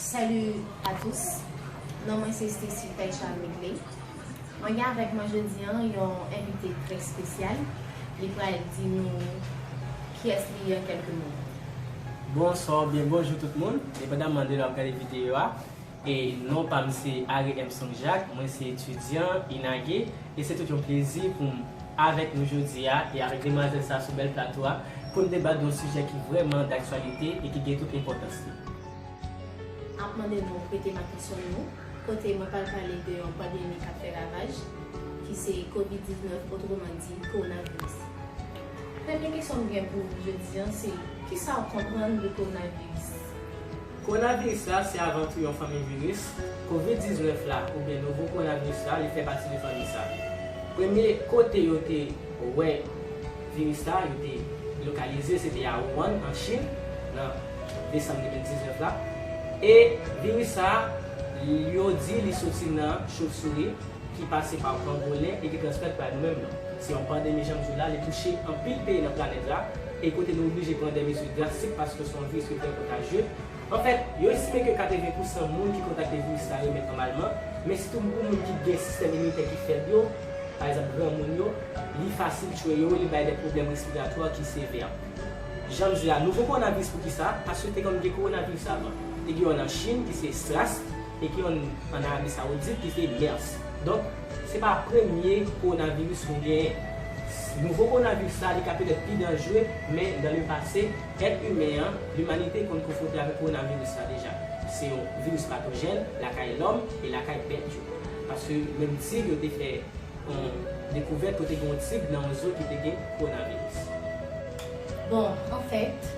Salut à tous non mwen se Stacy tèt chaj regle mwen gen avèk mwen jodi an yon envite trè spesyal li pral di nou kiyès li ye an kèlke mo. Bonswa ou byen bonjou tout moun, depandamman de lè wap gade videyo a, e non pam se Ary Emsong Jacques, mwen se etidyan, inage, e se tout yon plezi poum. avèk nou jodi a e avèk demwazèl sa sou bèl plato a pou n debat yon sijè ki vrèman daktyalite e ki gen tout enpòtans li. Ap mande nou prete m atansyon nou kote mwen pral pale de yon pandemi k ap fè ravaj ki se Covid 19 otreman di Kowonaviris. Premye kesyon m gen pou ou jodi an se kisa w konprann de Kowonaviris? Kowonaviris la se avantou yon fanmi viris, Covid 19 la oubyen nouvo kowonaviris la li fè pati de fanmi sa. Premye kote yo te wè viris la yo te lokalize se te a Wuhan an Chin nan desanm 2019 la e viris sa yo di li soti nan chovsouri ki pase pa pangolen e ki transmèt bay nou menm nou. Se yon pandemi janm di w la li touche anpil peyi nan planèt la. e kote nou oblije pran dè mezi drastik paske son viris ki trè kontajye. Anfèt, yo estime ke 80 pou san moun ki kontakte viris la remèt nòmalman, men sitou pou moun ki gen sistèm iminitè ki fèb yo, pa egzanp granmoun yo, li fasil tchwe yo, li bay dè pwoblèm respiratwa ki sevè. Jan m di a, nouvo kowonaviris poukisa? Paske te konn gen kowonaviris avan. Te gen yonn an Chin ki se SRAS e gen yonn an Arabi Sawoudit ki se MERS. Donk. Se pa premye kowonaviris nou genyen. Nouvo kowonaviris la li ka petèt pi danjre, men dan le pase, èt imen an, limanite konn konfwonte avèk kowonaviris la deja. Se yon viris patojèn lakay lòm e lakay bèt yo. Paske menm tig yo te fè yon dekouvèt kote gen yon tig nan yon zoo ki te gen kowonaviris. Bon, anfèt,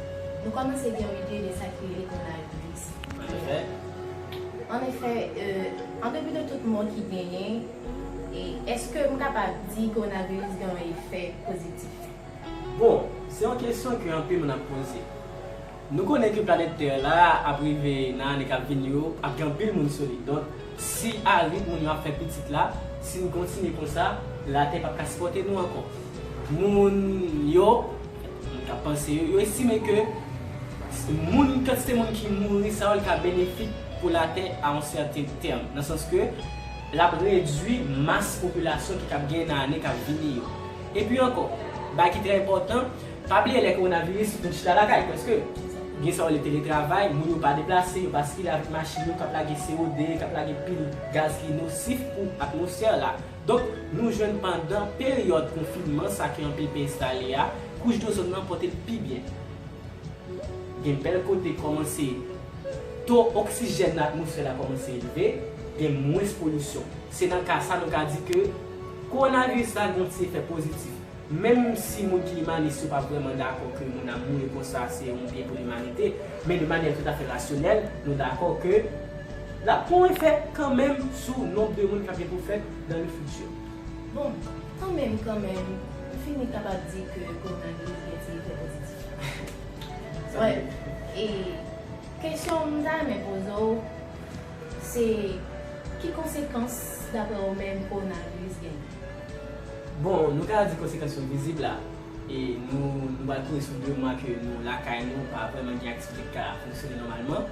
nou kòmanse gen yon ide de sa ki rele kowonaviris. An efè, an depi de tout mò ki genyen, èske m kapab di kowonaviris gen yon efè pozitif? Bon, se yon kesyon ke anpil moun ap poze. Nou konnen ke planèt tè la ap rive nan ane kap vini yo ap gen anpil moun sou li. Donk, si a rit moun yo ap fè pitit la, si n kontinye konsa, latè pap ka sipòte nou ankò. Moun yo. Moun ka panse yo estime ke moun kantite moun ki mouri sa yo li ka benefik pou latè a yon sèten tèm nan sans ke lap redwi mas popilasyon ki kab genyen nan ane kap vini yo. Epi ankò, bagay ki trè enpòtan, pa bliye lè kowonaviris moun chita lakay prèske, gen sa yo rele teletravay, moun yo pa deplase, yo pa sikile avèk machin yo kap lage CO2, kap lage pil gaz ki nosif pou atmosfè la. Donk, nou jwenn pandan peryòd konfinman sa ke anpil peyi enstale a, kouch dozòn nan pòte l pi byen. Gen bèl kote kòmanse to oksijèn nan atmosfè la kòmanse elve, gen mwens polisyon. Se nan ka sa nou ka di ke kowonaviris la gen yon ti efè pozitif. Menm si moun ki imanis yo pa vrèman dakò ke moun ap mouri konsa se yon byen pou limanite, men de manyè toutafè rasyonèl, nou dakò ke l ap pon efè kanmenm sou nonb de moun k ap gen pou fèt dan le fiti. Bon, kanmenm kanmenm, m fini k ap ap di ke kowonaviris gen ti efè pozitif la. Wè, e kesyon m ta renmen poze w, se ki konsekans daprè w menm kowonaviris genyen? Bon, nou ka di konsekans yo vizib la. E nou nou pral kouri sou 2 mwa ke nou lakay nou pa vrèman gen aktivite ki ka fonksyone nòmalman.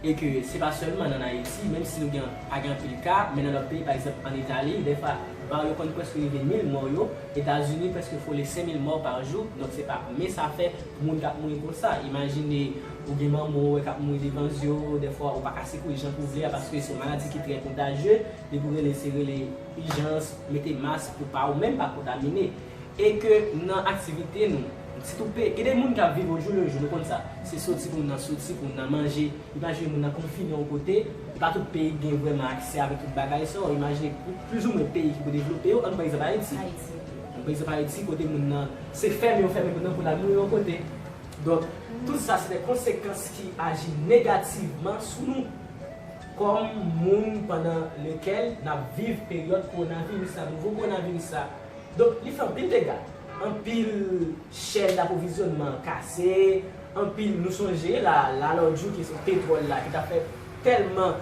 E ke se pa sèlman nan Ayiti, menm si nou gen pa gen anpil ka, men nan lòt peyi pa egzanp an Itali, dèfwa var yo konn prèske rive 1000 mò yo, Etazini prèske frole 5000 mò par jou, donk se pa men sa fè moun kap mouri konsa. Imajine ou gen manman ou wè kap mouri devan zye w, dèfwa ou pa ka sekou'l jan ke w vle a paske se yon maladi ki trè kontajye. Depi w rele se rele ijans, mete mask pou pa ou menm pa kontamine. E ke nan aktivite nou, ti tou pe, gen de moun kap viv ojou lejou nou konn sa. Se soti pou moun nan soti, pou moun nan manje. Imajine moun nan konfine yon kote, e pa tout peyi ki gen vrèman aksè avèk tout bagay sa w. Imajine plis ou mwen peyi ki pou devlope yo, an nou pran egzanp Ayiti. An nou pran egzanp Ayiti kote moun nan se fèmen yo fèmen moun nan pou l al mouri yon kote. Donk, tout sa se de konsekans ki aji negativman sou nou. Kòm moun pandan lekèl n ap viv peryòd kowonaviris la, nouvo kowonaviris la, donk li fè anpil dega. Anpil chèn daprovizyonnman kase, anpil, nou sonje la la lòdjou kesyon petwòl la ki t ap fè tèlman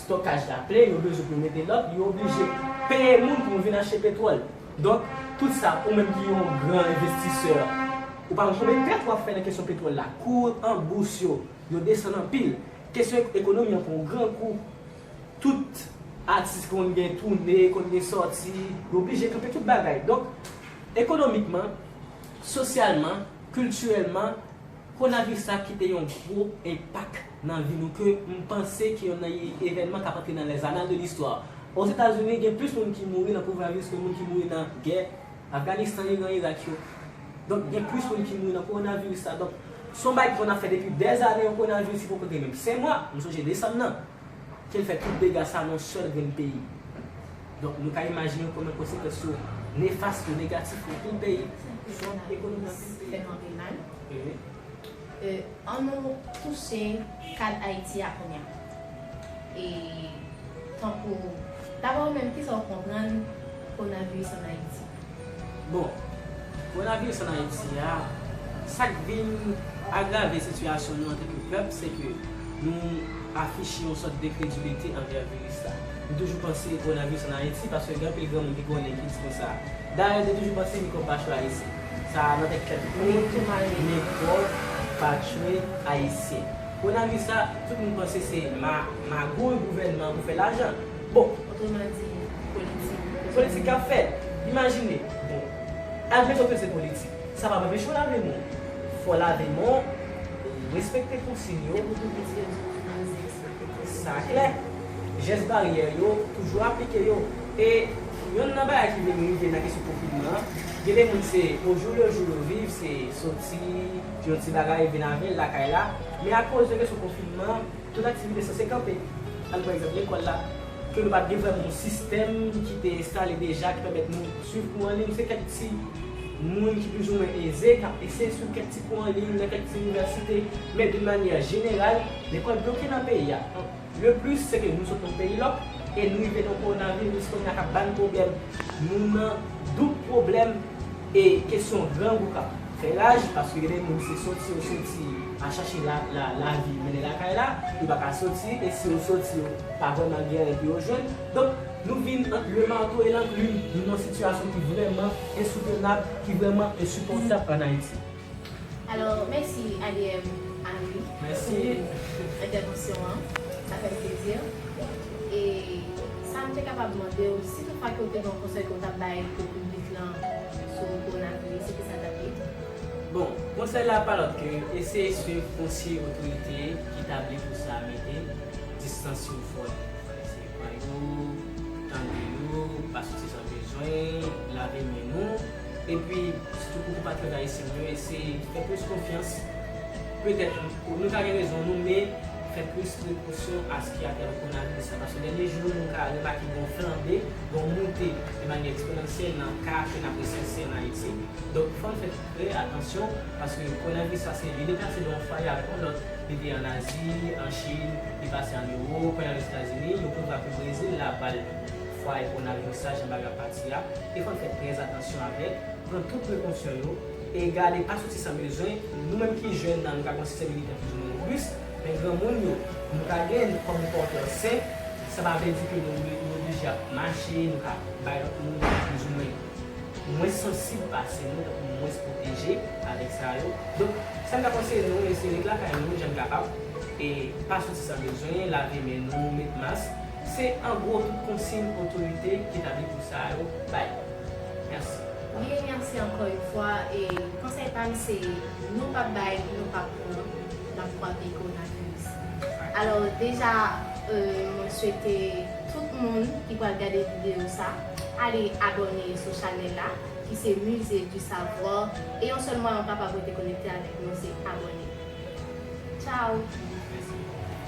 stokaj la plen yo bezwen pou yo mete lòt, yo oblije peye moun pou yo vin achte petwòl. Donk tout sa ou menm ki yon gran envestisè ou pa konn konbyen pèt w ap fè nan kesyon petwòl la. Kou an bous yo, yo desann anpil. Kesyon ekonomi an pran gran kou. Tout atis ki konn gen toune, konn gen sòti, yo blije kanpe tout bagay. Donk, ekonomikman, sosyalman, kiltirèlman, konaviris la kite yon gwo enpak nan vi nou ke m panse ki yon nan evènman k ap antre nan lèzanal de listwa. Ozetazini gen plis moun ki mouri nan konaviris ke moun ki mouri nan gè. Afganistan, Iran, Irak yo. Donk gen plis moun ki mouri nan kowonaviris la. Donk se yon bagay ki konn ap fè depi dè zane yon kowonaviris ki poko gen menm 5 mwa, m sonje desanm nan, ke l fè tout dega sa nan yon sèl grenn peyi. Donk nou ka imajine konbyen konsekans yo nefas yo, negatif yo pou peyi. Ekonomi an fè anpil mal. E an nou touche kad Ayiti a kounya. E tankou Dapre ou menm kisa ou konprann Konaviris an Ayiti? Bon, Konaviris an Ayiti a, sak vin agrave sitiyasyon nou antanke pèp se ke nou afiche yon sòt dekrediblite anvè viris la. Nou toujou panse Konaviris an Ayiti paske gen anpil granmoun ki konnen ki di konsa. Dayè nou te toujou panse mikwòb pa chwazi. Sa a nan tèt kèk moun ki mare nen pòv patchwe ayisyen. Kowonaviris la, tout moun panse se magouy gouvènman pou fè lajan. Bon! Otreman di, politik. Politik k ap fèt. Imajine! Bon! Admeton ke se politik. Sa pa p anpeche w lave men w. Fò w lave men w, respekte konsign yo. Epi tou mesye yo toujou ap di respekte konsign yo. Sa klè. Jès baryè yo, toujou aplike yo. E. Yonn nan bagay ki vin rive nan kesyon konfinman an, gen de moun se o jou le jou yo viv, se soti, di yon ti bagay, vin avè l lakay la, men akoz de kesyon konfinman an, tout aktivite sanse kanpe. An nou pran egzanp lekòl la, ke nou pa t gen vrèman yon sistèm ki te enstale deja ki pèmèt nou suiv kou anliy, se kèk ti moun ki plizoumwen eze k ap eseye suiv kèk ti kou anliy nan kèk ti inivèsite, men doun manyè jeneral, lekòl bloke nan peyi a. Le plus se ke nou sot yon peyi lòk e nou rive nan yon coronavirus kounya kap bann pwoblèm nou nan doub pwoblèm e kesyon grangou kap fè raj paske gen de moun se soti yo soti al chache lavi mennen lakay la yo pa ka soti e si yo soti yo pa vrèman gen anyen pou yo jwenn donk nou vin ant le marteau et l'enclume nou nan yon sitiyasyon ki vrèman ensoutenab ki vrèman ensipòtab an Ayiti. Alò mèsi Adm Henry pou entèvansyon an, sa fè m plezi. E sa m te kapab mande w, si tout fwa ke w te gen yon konsèy ke w t ap bay pou piblik lan sou kowonaviris, se ki sa l t ap ye? Bon, konsèy la pa lòt ke eseye swiv konsiy otorite ki tabli pou sa a mete, distans yo fò yo, fòk eseye pran yo, tande yo, pa soti san bezwen, lave men nou. Epi, sitou pou konpatriyòt ayisyen nou yo, eseye fè plis konfyans, petèt nou ka gen rezon nou, men fè plis prekosyon a s ki atè konavis la, paske dènye jou yo nou ka remake gen yon flanbe, gen yon moute de manyè eksponansyèl nan ka ke n ap resanse an Ayiti. Donk, fò n fè trè atansyon, paske konavis la se li depase de yon fwaye avèk yon lòt, li te an Azi, an Chin, li pase an Ewop, kounye a l Ozetazini, yo kouvri api Brezil la ba l. Fwa e pwonal yo sa jan bagay ap pati a, e fò n fè trè atansyon avèk, pran tout prekonsyon yo, e gade pa soti san bezwen, nou menm ki jèn nan nou ka gen yon sistèm iminitè plizoumwen robis, men granmoun yo, nou ka gen l kòm pòtè sen, sa pa vle di ke nou oblije ap mache, nou ka bay lòt moun ki plizoumwen mwens sansib pase nou, tankou mwens pwoteje avèk sa yo. Donk, sa m ka konseye nou, e se ret lakay nou jan n kapab, e pa soti san bezwen, lave men nou, met mas. Se an gwo tout konsign otorite ki nan liv sa yo bay yo. Mèsi. Mille merci ankò yn fwa e konsèy pam se nou pap bay nou pap pran nap fwape ko nan kriz alò deja mwen swete tout moun ki pral gade video sa ale abòne sou chanèl la ki se musée du savoir e yon sèl mwayen ou kapab rete konekte avèk nou se abòne ciao.